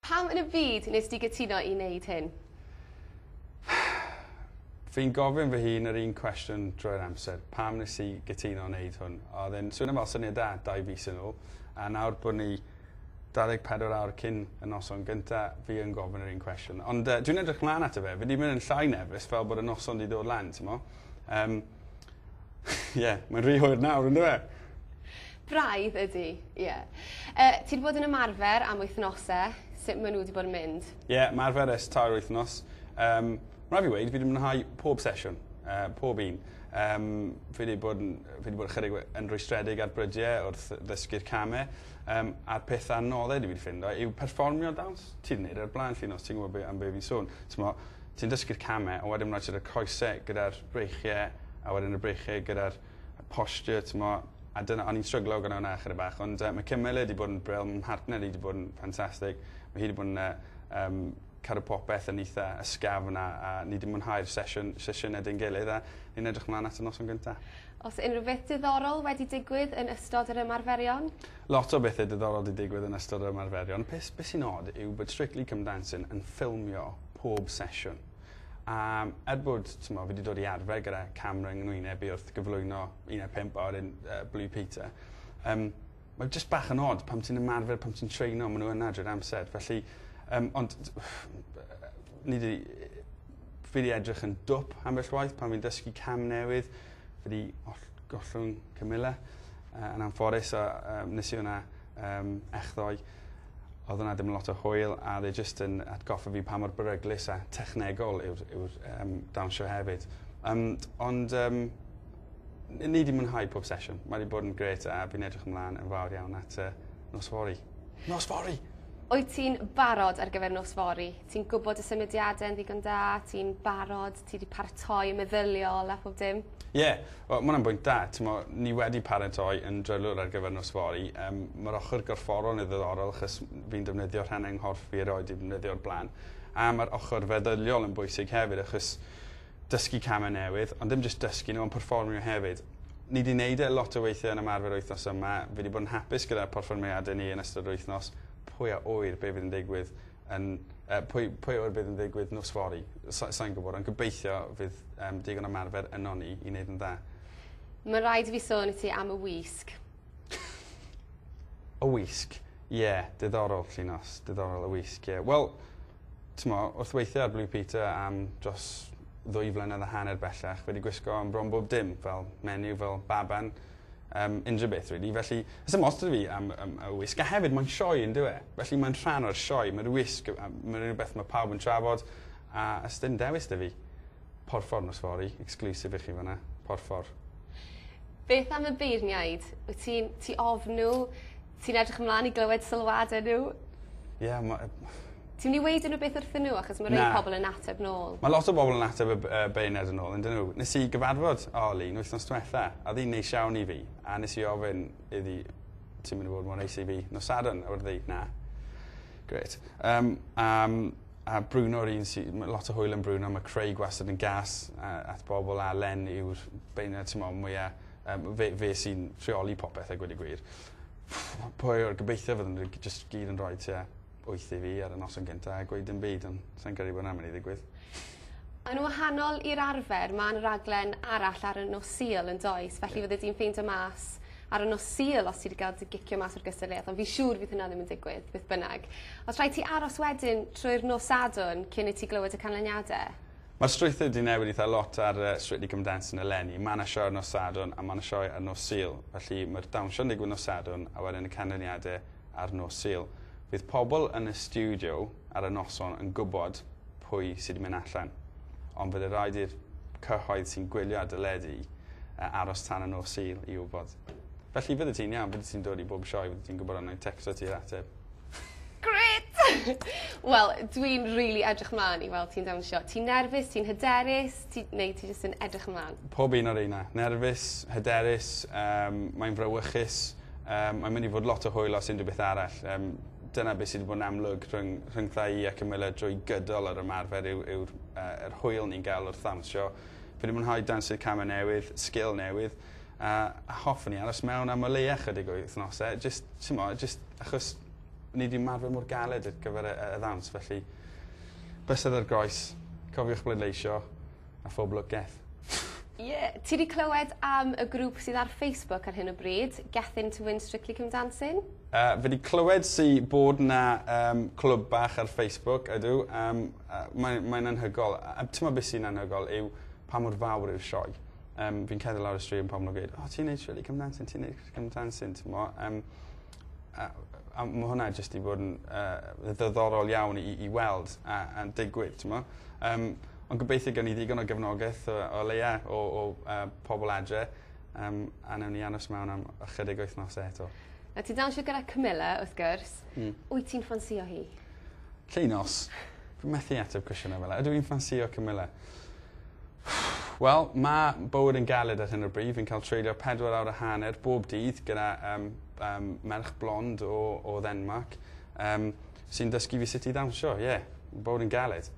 Pam yn y byd wnest ti gytuno i wneud hyn? Fi'n gofyn fy hun yr un cwestiwn drwy'r amser, pam wnes i gytuno wneud hwn? Oedd e'n swnio fel syniad da dau fis yn ôl, a nawr bod ni 24 awr cyn y noson gynta, fi yn gofyn yr un cwestiwn. Ond uh, dwi'n edrych mlaen ato fe, fi wedi mynd yn llai nefus fel bod y noson wedi dod lan, ti'n mo? Um, Ie mae'n rhy hwyr nawr on'd yw e? Braidd ydi ie. Yy ti 'di bod yn ymarfer am wythnose sut ma' n'w 'di bod yn mynd? Ie marfer ers tair wythnos yym ma' rai' fi weud fi 'di mwynhau pob sesiwn yy pob un yym fi 'di bod yn yy fi 'di bod chydig we- yn rwystredig ar brydie wrth ddysgu'r came yym a'r peth anodde dwi 'di ffindo yw perfformio dawns. Ti 'di neud e o'r bla'n Llinos ti'n gwbo be' am be' fi'n sôn t'mo' Ti'n dysgu'r camau a wedyn ma' raid ti roi'r coese gyda'r breichie a wedyn y breichie gyda'r y posture t'mo' a dyna o'n i'n stryglo gyda wnna chydig bach ond yy ma' Camilla 'di bod yn brill ma' mhartner i 'di bod yn ffantastig ma' hi 'di bod yn yy yym cadw popeth yn itha ysgafn a a ni 'di mwynhau'r sesiwn sesiyne 'da'n gilydd a ni'n edrych mlan at y noson gynta. O's unrhyw beth diddorol wedi digwydd yn ystod yr ymarferion? Lot o bethe diddorol 'di digwydd yn ystod yr ymarferion. Peth be' sy'n od yw bod Strictly Come Dancing yn ffilmio pob sesiwn. A er bod, t'mo', fi 'di dod i arfer gyda camra yng ngwynebu wrth gyflwyno un ar pump a wedyn uh, Blue Peter, um, mae jyst bach yn od pam ti'n ymarfer, pam ti'n treino, maen nhw yna drwy'r amser. Felly, um, ond ni di, fi wedi edrych yn dwp ambell waith pan fi'n dysgu cam newydd. Fi wedi gollwng Camilla uh, yn anffodus a um, nes i hwnna um, echddoe. Oedd yna ddim lot o hwyl a oedd e jyst yn atgoffa fi pa mor beryglus a technegol yw'r yw um, dawnsio hefyd. Um, ond um, ni wedi mwynhau pob sesiwn. Mae wedi bod yn gret a fi'n edrych ymlaen yn fawr iawn at uh, nos fori. Nos fori! Wyt ti'n barod ar gyfer nos fori? Ti'n gwybod y symudiadau yn ddigon da? Ti'n barod? Ti 'di paratoi yn meddyliol a phob dim? Ie. Wel ma' wnna'n bwynt da. T'mo' ni wedi paratoi yn drylwyr ar gyfer nos fory. Yym ma'r ochor gorfforol yn ddiddorol achos fi'n defnyddio rhannau 'y nghorff fi erioed 'di defnyddio o'r bla'n. A ma'r ochor feddyliol yn bwysig hefyd achos dysgu came newydd ond dim jyst dysgu n'w on' perfformio hefyd. Ni 'di neud e lot o weithie yn ymarfer wythnos yma. Fi 'di bod yn hapus gyda'r porfformiade ni yn ystod yr wythnos. Pwy a ŵyr be' fydd yn digwydd yn uh, pwy, pwy o'r bydd yn ddigwydd nos fori. Sa'n sa gwybod, ond gobeithio fydd um, digon ymarfer yno ni i wneud yn dda. Mae'n rhaid i fi sôn i ti am y wisg. y wisg? Ie, yeah, diddorol, Llinos, diddorol y wisg, ie. Yeah. Wel, ti'n mo, wrth weithio ar Blue Peter am dros ddwy flynedd a hanner bellach, wedi gwisgo am bron bob dim, fel menu, fel baban, um, unrhyw beth, really. Felly, ys ymostod fi am, am, am y wisg. A hefyd, mae'n sioe yn dweud. Felly, mae'n rhan o'r sioe. Mae'r wisg, mae'n rhywbeth mae pawb yn trafod. A ys dim dewis dy fi. Porffor nos fori, exclusive i chi fanna. Porffor. Beth am y beirniaid? Wyt ti'n ti ofn nhw? Ti'n edrych ymlan i glywed sylwade n'w? Ie ma' yy... Ti myn' i weud unrywbeth wrthyn n'w achos ma' rei... Na. ...pobol yn ateb nôl. Ma' lot o bobol yn ateb y b- yy beunedd yn ôl on'd 'yn n'w? Nes i gyfarfod Arlene wythnos dwetha a odd 'i'n neis iawn i fi a nes i ofyn iddi ti myn' i fod mor neis i fi nos Sadwrn a wed 'ddi na. Grêt. Yym a yym a Bruno 'r un sy ma' lot o hwyl yn Bruno ma' Craig wastad yn gas yy at bobol a Len yw'r beunad t'mo' mwya Yym fe fe sy'n rheoli popeth a gweud y gwir. Pwy yw'r gobeithio fydden n'w jyst gyd yn rhoi tua wyth i fi ar y noson gynta a gweud dim byd on' sai'n credu bo' 'na myn' i ddigwydd. Yn wahanol i'r arfer ma' 'na raglen arall ar y nos Sul yndoes felly fyddet ti'n ffeindio mas ar y nos Sul os ti 'di ga'l dy gicio mas o'r gystadleuaeth ond fi'n siŵr fydd hynna ddim yn digwydd beth bynnag. Os rhaid ti aros wedyn trwy'r nos Sadwrn cyn i ti glywed y canlyniade? Mae'r strwythur 'di newid eitha lot ar yy Strictly Come Dancing eleni. Ma' 'na sioe ar nos Sadwrn a ma' 'na sioe ar nos Sul. Felly mae'r dawnsio'n digwydd nos Sadwrn a wedyn y canlyniade ar nos Sul. Fydd pobl yn y stiwdio ar y noson yn gwbod pwy sy 'di mynd allan. Ond fydde raid i'r cyhoedd sy'n gwylio ar deledu yy aros tan y nos Sul i wbod. Felly fyddet ti'n iawn, byddet ti'n dod i bob sioe fyddet ti'n gwbod a 'nai tecsto ti yr ateb. Grêt! Wel dwi'n rili edrych mlan i weld ti'n dawnsio. Ti'n nerfus ti'n hyderus ti neu ti jyst yn edrych ymlan? Pob un o reina. Nerfus, hyderus yym mae'n frawychus yym mae'n mynd i fod lot o hwyl os unrhyw beth arall yym dyna be' sy 'di bod yn amlwg rhwng rhyngtha i a Camilla drwy gydol yr ymarfer yw yw'r yy yr hwyl ni'n ga'l wrth ddawnsio. Fi 'di mwynhau dansu came newydd, sgil newydd. A hoffwn i aros mewn am o leia chydig o wythnose jyst t'mo' jyst achos ni 'di marfer mor galed ar gyfer y y ddawns felly bysedd ar groes, cofiwch bleidleisio a phob lwc geth. Ie, ti 'di clywed am y grŵp sydd ar Facebook ar hyn o bryd, Gethin' to Win Strictly Come Dancing? Yy fi 'di clywed sy bod 'na yym clwb bach ar Facebook ydw yym yy mae mae'n anhygol a a t'mo' be' sy'n anhygol yw pa mor fawr yw'r sioe. Yym fi'n cerdded lawr y stryd ma' pawb yn gweud o ti'n neud shwd i ca'l mense ti'n neud ca'l mense t'mo' yym a a ma' hwnna jyst 'di bod yn yy ddiddorol iawn i i weld a a'n digwydd t'mo'? Yym ond gobeithio gewn ni ddigon o gefnogeth o o leia o o yy pobol adre yym a newn ni aros mewn am ychydig wythnose eto. Nawr ti dawnsio gyda Camilla wrth gwrs. Hmm. Wyt ti'n ffansïo hi? Llinos. Fi methu ateb cwestiyne fel 'a. Ydw i'n ffansïo Camilla? Ffff! Wel, ma' bywyd yn galed ar hyn o bryd, fi'n cael treulio pedwar awr a hanner bob dydd gyda yym yym merch blond o o Ddenmarc yym sy'n dysgu fi sut i ddawnsio, ie. Ma' bywyd yn galed.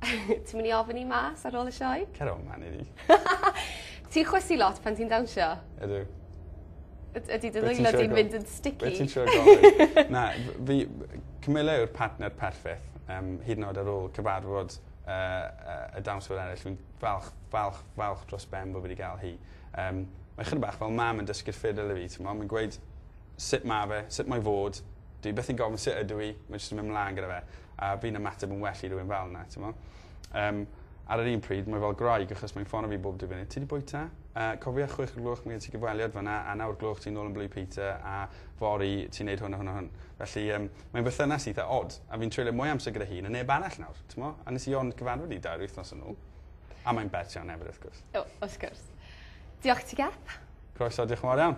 Ti myn' i ofyn i mas ar ôl y sioe? Cer o man iddi. Ti'n chwysu lot pan ti'n dawnsio? Ydw. Yd- ydi dy ddwylo di'n mynd yn sticky? Be' ti'n trio gofyn? Na f- fi Camilla yw'r partner perffeth yym hyd yn o'd ar ôl cyfarfod y y y dawns fel eryll fi'n falch falch falch dros ben bo fi 'di ga'l hi. Yym mae chydig bach fel mam yn dysgu'r ffidl i fi t'mo' mae'n gweud sut ma' fe sut mae fod. Dyw 'i byth yn gofyn sut ydw i mae jyst yn myn' mlan gyda fe a fi'n ymateb yn well i rywun fel 'na t'mo'? Yym ar yr un pryd mae fel gwraig achos mae'n ffono fi bob dydd Gwener 'ti 'di bwyta? Yy cofia chwech o'r gloch ma' gen ti gyfweliad fan 'na a nawr gloch ti nôl yn Blue Peter a fory ti'n neud hwn a hwn a hwn. Felly yym Mae'n berthynas eitha od, a fi'n treulio mwy o amser gyda hi na neb arall nawr, t'mo'? A nes i ond gyfarfod hi dair wythnos yn ôl. A mae'n bert iawn efyd wrth gwrs. O, wrth gwrs. Diolch ti Gep. Croeso, diolch yn fawr iawn.